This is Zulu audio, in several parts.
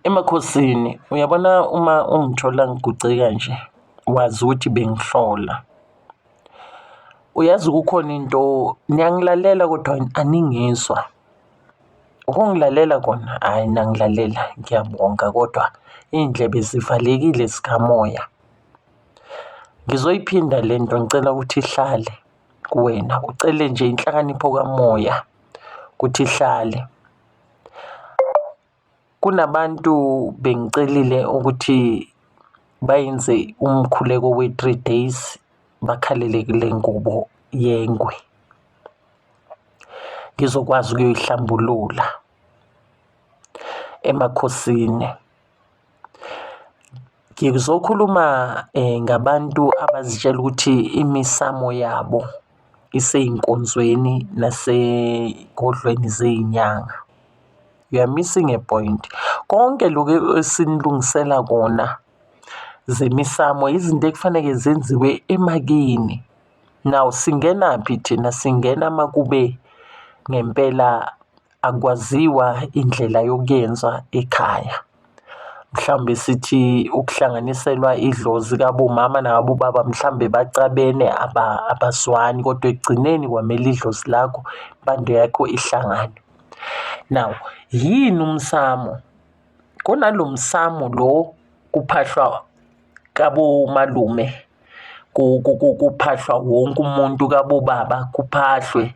Emakhosini, uyabona uma ungithola ngiguce kanje, wazi ukuthi bengihlola. Uyazi kukhona into niyangilalela kodwa aningizwa. Ukungilalela kona, hhayi nangilalela ngiyabonga kodwa iy'ndlebe zivalekile zikamoya. Ngizoyiphinda le nto ngicela ukuthi ihlale kuwena, ucele nje inhlakanipho kamoya ukuthi ihlale. Kunabantu bengicelile ukuthi bayenze umkhuleko we-three days bakhalele kule ngubo yengwe, ngizokwazi ukuyoyihlambulula emakhosini. Ngizokhuluma ngabantu abazitshela ukuthi imisamo yabo isey'nkonzweni nasey'godlweni zey'nyanga. You are missing a point. Konke loku esinilungisela kona zemisamo izinto ekufaneke zenziwe emakini. Now singenaphi thina singena makube ngempela akwaziwa indlela yokuyenza ekhaya. Mhlawumbe sithi ukuhlanganiselwa idlozi kabomama nabobaba mhlawumbe bacabene abazwani kodwa ekugcineni kwamele idlozi lakho impande yakho ihlangane. Now yini umsamo? Kunalo msamo lo kuphahlwa kabomalume kuphahlwa wonke umuntu kabobaba kuphahlwe.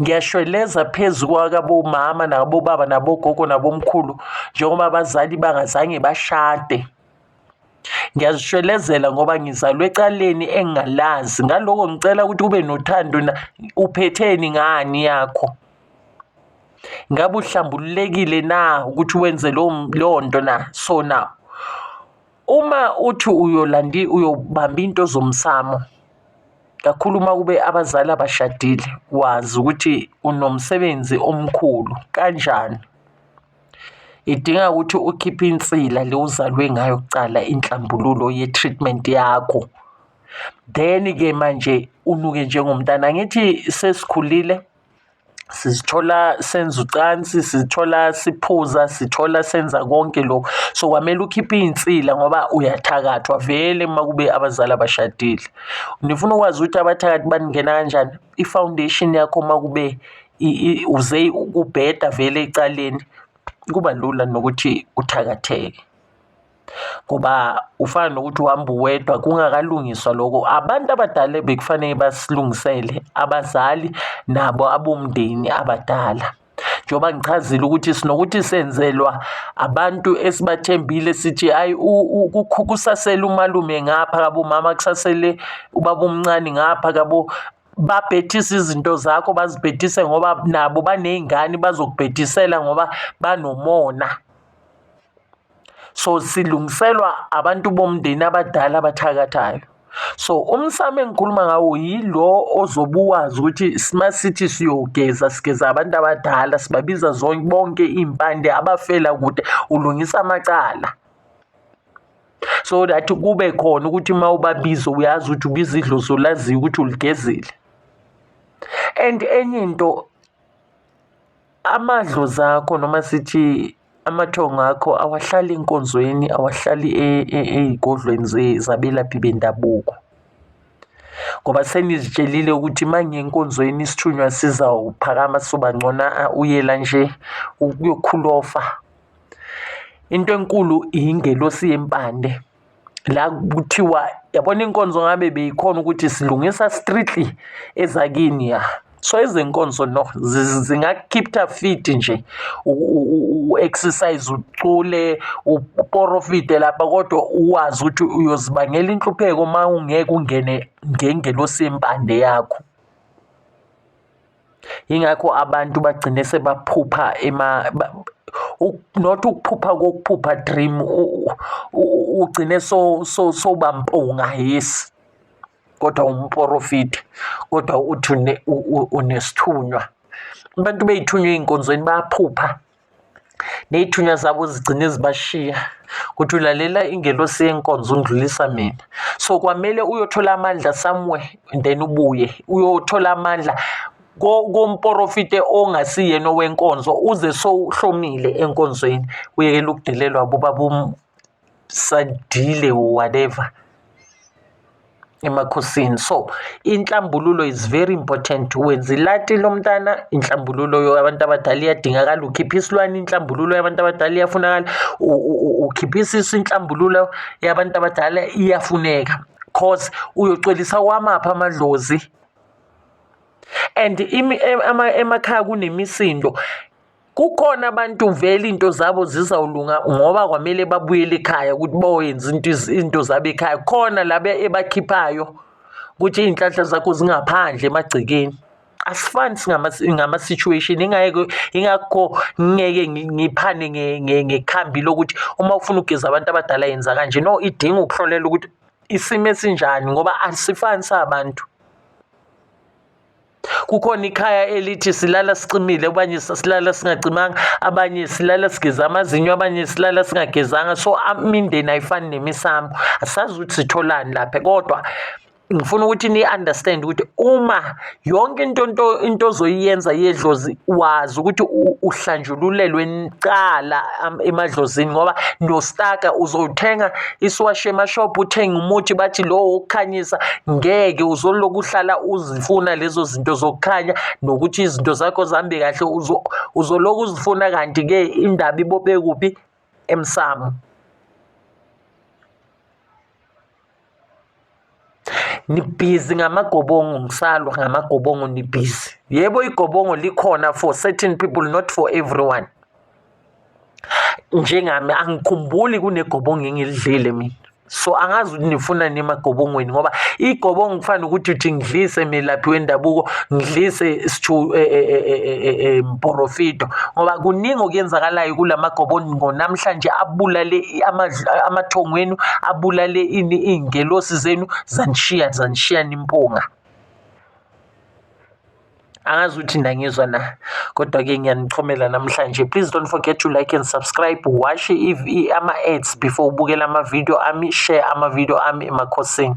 ngiyashweleza phezu kwakabomama nakabobaba nabogogo nabomkhulu njengoba abazali bangazange bashade ngiyazishwelezela ngoba ngizalwe ecaleni engingalazi ngaloko ngicela ukuthi ube nothando uphetheni ngani yakho ngabe uhlambululekile na ukuthi wenze leyo nto na so now Uma uthi uyolandi uyobamba into zomsamo kakhulu uma kube abazali abashadile wazi ukuthi unomsebenzi omkhulu kanjani idinga ukuthi ukhiphe insila le uzalwe ngayo kucala inhlambululo ye-treatment yakho then-ke manje unuke njengomntana angithi sesikhulile sizithola senza ucansi sizithola siphuza sithola senza konke lokhu so kwamele ukhiphe iy'nsila ngoba uyathakathwa vele uma kube abazali abashadile nifuna ukwazi ukuthi abathakathi baningena kanjani i-foundation yakho uma kube uze kubheda vele ecaleni kuba lula nokuthi uthakatheke ngoba ufana nokuthi uhamba uwedwa kungakalungiswa lokho abantu abadala bekufanele basilungisele abazali nabo abomndeni abadala njengoba ngichazile ukuthi sinokuthi senzelwa abantu esibathembile sithi hayi kusasele umalume ngapha kabo mama kusasele ubaba omncane ngapha kabo babhethise izinto zakho bazibhethise ngoba nabo baney'ngane bazokubhethisela ngoba banomona so silungiselwa abantu bomndeni abadala abathakathayo so umsamo engikhuluma ngawo yilo ozobuwazi ukuthi sima sithi siyogeza sigeza abantu abadala sibabiza zonke bonke iy'mpande abafela kude ulungisa amacala so that kube khona ukuthi uma ubabiza uyazi ukuthi ubiza idlozi olaziyo ukuthi uligezile and enye into amadlozi akho noma sithi Amathongo akho awahlali enkonzweni awahlali e, e, ey'godlweni zabelaphi bendabuko ngoba senizitshelile ukuthi uma ngenkonzweni isithunywa sizawuphakama sobangcona uyela nje ukuyokhulofa into enkulu ingelosi yempande la kuthiwa yabona inkonzo ngabe beyikhona ukuthi silungisa strictly ezakini ya so izinkonzo no zingakukhipha fit nje u-exercise ucule uporofide lapha kodwa uwazi ukuthi uyozibangela inhlupheko uma ungeke ungene ngengelosi yempande yakho yingakho abantu bagcine sebaphupha ema not ukuphupha kokuphupha dream ugcine so so sobampunga yes kodwa umporofidi kodwa uthi unesithunywa abantu beyithunywa ey'nkonzweni bayaphupha ney'thunywa zabo zigcine zibashiya kuthi ulalela ingelosi yenkonzo undlulisa mina so kwamele uyothola amandla somewhere then ubuye uyothola amandla komporofite ongasiyena owenkonzo uze sowuhlomile enkonzweni uyekela ukudelelwa bobaba sadile whatever emakhosini so inhlambululo is very important wenza ilati lomntana inhlambululo yabantu abadala iyadingakala ukhipha isilwane inhlambululo yabantu abadala iyafunakala ukhipha isisu inhlambululo yabantu abadala iyafuneka cause uyocolisa kwamaphi amadlozi and emakhaya kunemisindo kukhona abantu vele into zabo zizawulunga ngoba kwamele babuyele ekhaya ukuthi boyenza into into zabo ekhaya khona labe ebakhiphayo ukuthi iy'nhlanhla zakho zingaphandle emagcekeni asifani ngama-situation ingeke ingakho ngeke ngiphane ngekhambi lokuthi uma ufuna ukugeza abantu abadala yenza kanje no idinga ukuhlolela ukuthi isimo esinjani ngoba asifani sabantu kukhona ikhaya elithi silala sicimile abanye silala singacimanga abanye silala sigeza amazinyo abanye silala singagezanga so imindeni ayifani nemisambo asazi ukuthi sitholani lapha kodwa ngifuna ukuthi ni understand ukuthi uma yonke into into into ozoyiyenza yedlozi wazi ukuthi uhlanjululelwe nicala emadlozini ngoba nostaka uzothenga isiwashe emashop uthenga umuthi bathi lo wokukhanyisa ngeke uzoloku uhlala uzifuna lezo zinto zokukhanya nokuthi izinto zakho zihambe kahle uzolokhu uzifuna kanti-ke indaba ibophe kuphi emsamo nibhizi ngamagobongo ngisalwa ngamagobongo nibhizi yebo igobongo likhona for certain people not for everyone njengami angikhumbuli kunegobongo engilidlile mina so angazi ukuthi nifuna nini emagobongweni ngoba igobongo kufanele ukuthi uthi ngidlise melaphi wendabuko ngidlise sithu eh, eh, eh, mporofito ngoba kuningi okuyenzakalayo kula magobongo namhlanje abulale amathongo enu abulale ini iy'ngelosi zenu zanishiya zanishiya nimpunga angazi ukuthi nangizwa na kodwa-ke ngiyanichomela namhlanje please don't forget to like and subscribe washe ama-ads before ubukela ama-video ami share ama-video ami emakhosini